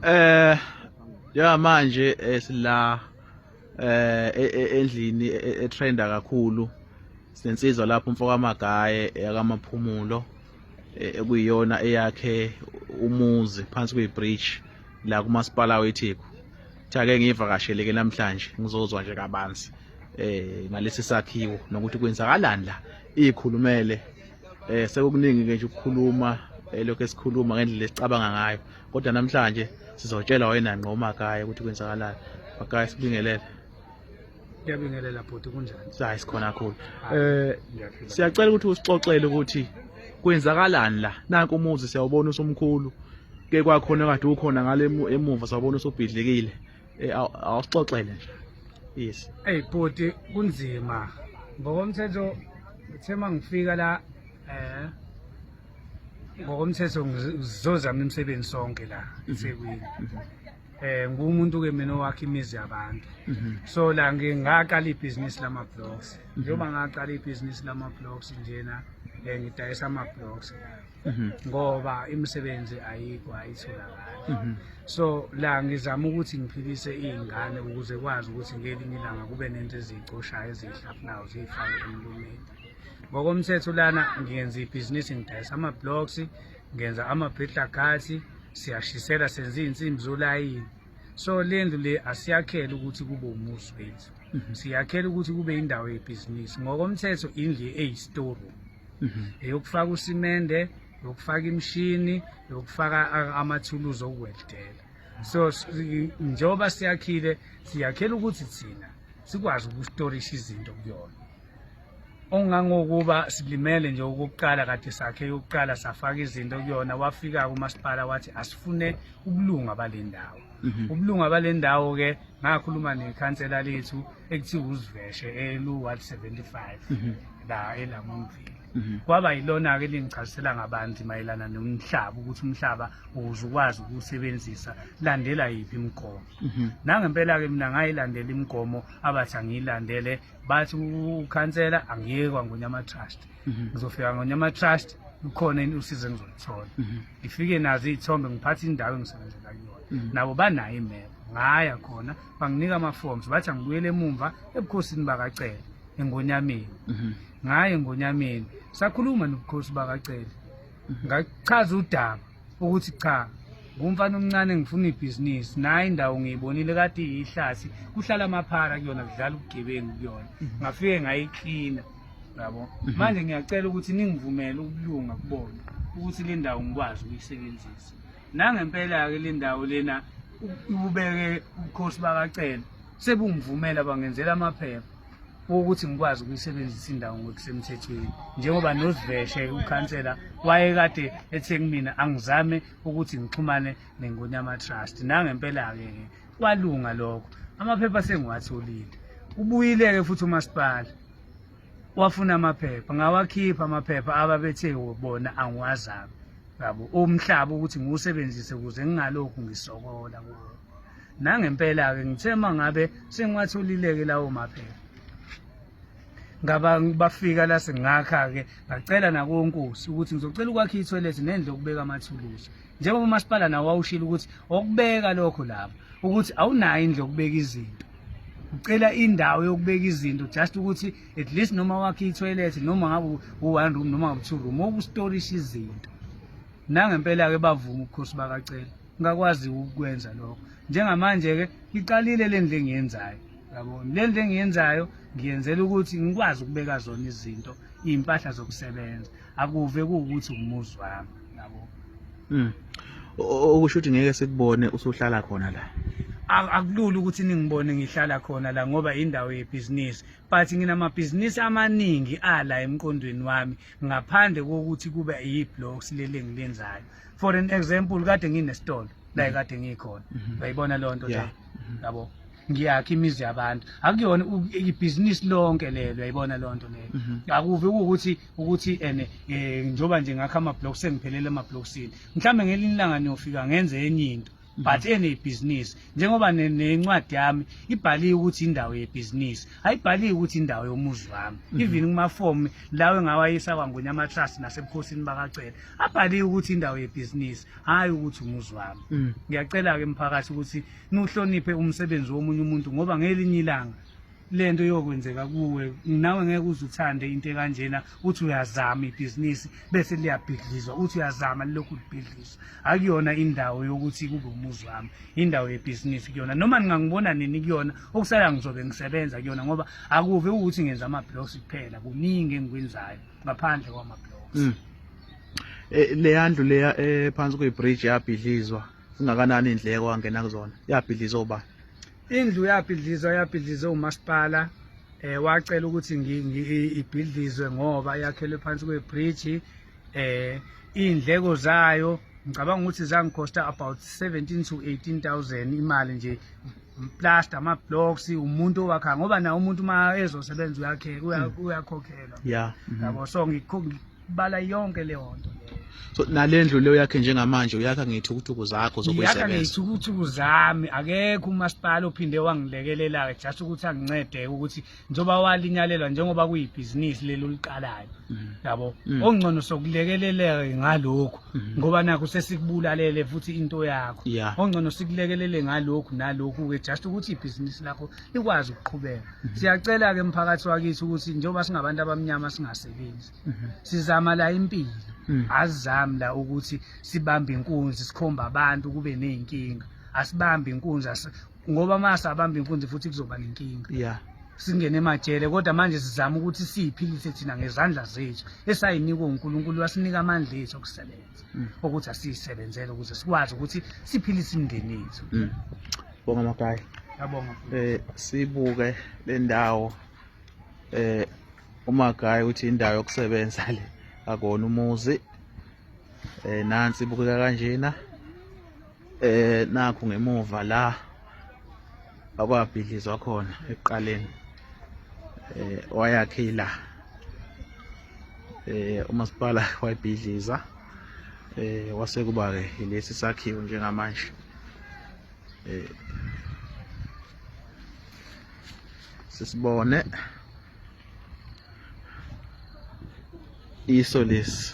Eh ya manje eh, sila eh e, e, endlini e, etrenda kakhulu sensizwa lapho umfoka magaye yakamaphumulo ekuyiyona eyakhe umuzi phansi kuyibridge la kumasipala weTheku thake ngivakashele ke namhlanje ngizozwa nje kabanzi eh ngalesi sakhiwo nokuthi kwenzakalani la ikhulumele eh sekukuningi ke nje ukukhuluma elokhu eh, esikhuluma ngendlela esicabanga ngayo kodwa namhlanje sizotshela wena ngqo umakaya ukuthi kwenzakalani makaya sibingelele ngiyabingelela bhuti kunjani hayi sikhona kakhulu eh siyacela ukuthi usixoxele ukuthi kwenzakalani la nanku umuzi siyawubona usumkhulu ke kwakhona kade ukhona ngale emuva sawubona usubhidlikile Eh, aw- awusixoxele nje yes Ey bhuti kunzima. Ngokomthetho uthe mangifika la eh ngokomthetho ngiz- ngizozama imisebenzi sonke la eThekwini. Eh ngumuntu ke mina owakhe imizi yabantu. Mhm. So la ngi- ngaqala ibhizinisi lama blocks. Njengoba ngaqala ibhizinisi lama blocks njena eh ngidayisa ama blocks. mhm. ngoba imisebenzi ayikho ayitholakali mhm. so la ngizama ukuthi ngiphilise iy'ngane ukuze kwazi ukuthi ngelinye ilanga kube nento eziyicoshayo eziyihlafunayo ziyifake emlumeni ngokomthetho lana ngenza ibhizinisi ngidayisa ama-blocks ngenza ama-britlagathi siyashisela senza iy'nsimbi zolayini so le ndlu le asiyakhele ukuthi kube umuzi wethu mhm. siyakhele ukuthi kube indawo yebhizinisi ngokomthetho indlu eyi-storeroom mhm. eyokufaka usimende yokufaka imishini yokufaka amathuluzi okuweldela so njengoba siyakhile siyakhela ukuthi thina sikwazi ukustorisha izinto kuyona ongangokuba silimele nje ukuqala kade sakhe yokuqala safaka izinto kuyona wafika kumasipala wathi asifune ubulunga balendawo mhm. ubulunga balendawo ke ngakhuluma nekhansela lethu ekuthiwa uziveshe elu-175 mhm. la elamumvile mhm. kwaba yilona-ke lingichazisela ngabanzi mayelana nomhlaba ukuthi umhlaba ukuze ukwazi ukuwusebenzisa landela yiphi imigomo mhm. nangempela-ke mina ngayilandela imigomo abathi angiyilandele bathi ukhansela angiyekwa ngonyama trust ngizofika ngonyama trust lukhona usizo engizolithola mhm. ngifike nazo iy'thombe ngiphathe indawo engisebenzela kuyona mhm. nabo banayo imeko ngaya khona banginika ama-forms bathi angibuyele emumva ebukhosini bakacele engonyameni mhm. ngaye engonyameni sakhuluma nobukhosi bakacele mhm. ngachaza udaba ukuthi cha ngumfana omncane ngifuna ibhizinisi naye indawo ngiyibonile kade iyihlasi kuhlala amaphara kuyona kudlala ubugebengu kuyona mhm. ngafike ngayiklina yabo manje ngiyacela ukuthi ningivumele ukulunga kubona ukuthi le ndawo ngikwazi ukuyisebenzisa Nangempela-ke le ndawo lena ububeke ubukhosi bakacele sebungivumela bangenzela amaphepha wokuthi ngikwazi ukuyisebenzisa indawo ngokusemthethweni njengoba noziveshe ukhansela wayekade ethe kumina angizame ukuthi ngixhumane nengonyama trust nangempela-ke ke kwalunga lokho amaphepha sengiwatholile ubuyile-ke futhi umasipala wafuna amaphepha ngawakhipha amaphepha ababethe bona angiwazami yabo umhlaba ukuthi ngiwusebenzise ukuze ngingalokhu ngisokola kuwo nangempela-ke ngithe uma ngabe sengiwatholile-ke lawo maphepha ngaba bafika la sengakha-ke ngacela nakonkosi ukuthi ngizocela ukwakha ithoyilethi nendlu okubeka amathuluzi njengoba umasipala nawo wawushilo ukuthi okubeka lokho lapho ukuthi awunayo indlela yokubeka izinto ucela indawo yokubeka izinto just ukuthi at least noma wakhe itoilet noma ngabe u-one room noma ngabe two room okustorisha izinto nangempela-ke bavuma ubukhosi bakacela ngakwazi ukukwenza lokho njengamanje-ke iqalile le ndlu engiyenzayo yabona le ndlu engiyenzayo ngiyenzela ukuthi ngikwazi ukubeka zona izinto iy'mpahla zokusebenza akuve kuwukuthi umuzi wami yabo mm okusho ukuthi ngeke sikubone usuhlala khona la akulula ukuthi ningibone ngihlala khona la ngoba indawo yebhizinisi but nginamabhizinisi amaningi ala emqondweni wami ngaphandle kokuthi kube yi-blocks leli engilenzayo for an example kade nginesitolo la mm-hmm. kade ngikhona mm-hmm. uyayibona loo nto leyo mm-hmm. yabo yeah. ngiyakha imizi yabantu akuyona ibhizinisi lonke lelo yayibona lonto leyo mhm. akuve ukuthi ukuthi ene eh, njoba nje ngakho ama block sengiphelele ama blocksini mhlambe ngelinye ilanga niyofika ngenze enye into but mhm. enebhizinisi njengoba nencwadi yami ibhaliwe ukuthi indawo yebhizinisi ayibhaliwe ukuthi indawo yomuzi wami mhm. even kumafomu lawo engawayisa kwangwenya amatrust nasebukhosini bakacela abhaliwe ukuthi indawo yebhizinisi hhayi ukuthi umuzi wami mhm. ngiyacela-ke mphakathi ukuthi niwuhloniphe umsebenzi womunye umuntu ngoba ngelinye ilanga lento iyokwenzeka kuwe nawe ngeke uze uthande into ekanjena uthi uyazama ibhizinisi bese liyabhidlizwa uthi uyazama lilokhu libhidlizwa akuyona indawo yokuthi kube umuzi wami indawo yebhizinisi kuyona noma ningangibona nini kuyona okusala ngizobe ngisebenza kuyona ngoba akuve ukuthi ngenza ama-blocks kuphela kuningi engikwenzayo ngaphandle kwama-blocks mm. Eh, leya ndlu leya ephansi eh, kuyibridge yabhidlizwa zingakanani iy'ndleko angena kuzona yabhidlizwa obani Indlu yabhidlizwa yabhidlizwe umasipala eh wacela ukuthi ibhidlizwe ngoba yakhelwe phansi kwebridge eh indleko zayo ngicabanga ukuthi zangikhosta about 17 to 18000 imali nje plaster ama blocks umuntu owakha ngoba na umuntu uma ezosebenza uyakhe mm. uyakhokhelwa yeah mm-hmm. yabo so ngikho bala yonke leyo nto so nalendlu leyo yakhe njengamanje uyakha ngeyithukutuku zakho zokuyisebenza yakha ngeyithukutuku zami akekho umasipala ophinde wangilekelela ke just ukuthi angincede ukuthi njoba walinyalelwa njengoba kuyibhizinisi leli uliqalayo mm-hmm. yabo mm-hmm. ongcono sokulekeleleka ngalokho mm-hmm. ngoba nakho sesikubulalele futhi into yakho ongcono sikulekelele ngalokho nalokho ke just ukuthi ibhizinisi lakho ikwazi ukuqhubeka mhm. siyacela-ke mphakathi wakithi ukuthi njengoba singabantu abamnyama singasebenzi mhm. sizama la impilo mhm. azizami la ukuthi sibambe inkunzi sikhomba abantu kube ney'nkinga asibambe inkunzi ngoba uma sabamba inkunzi futhi kuzoba nenkinga yeah singene emajele kodwa manje sizama ukuthi siyiphilise thina ngezandla zethu esayinikwe uNkulunkulu wasinika amandla ethu okusebenza mm. ukuthi asiyisebenzele ukuze sikwazi ukuthi siphilise imindeni yethu mm. bonga makayi yabonga eh sibuke lendawo eh uma guy uthi indawo yokusebenza le akona umuzi eh nansi ibukeka kanjena eh nakho ngemuva la akwabhidlizwa khona ekuqaleni eh wayakhe ila eh umasipala wayibhidliza eh wase kuba ke lesi sakhiwo njengamanje eh sisibone iso lesi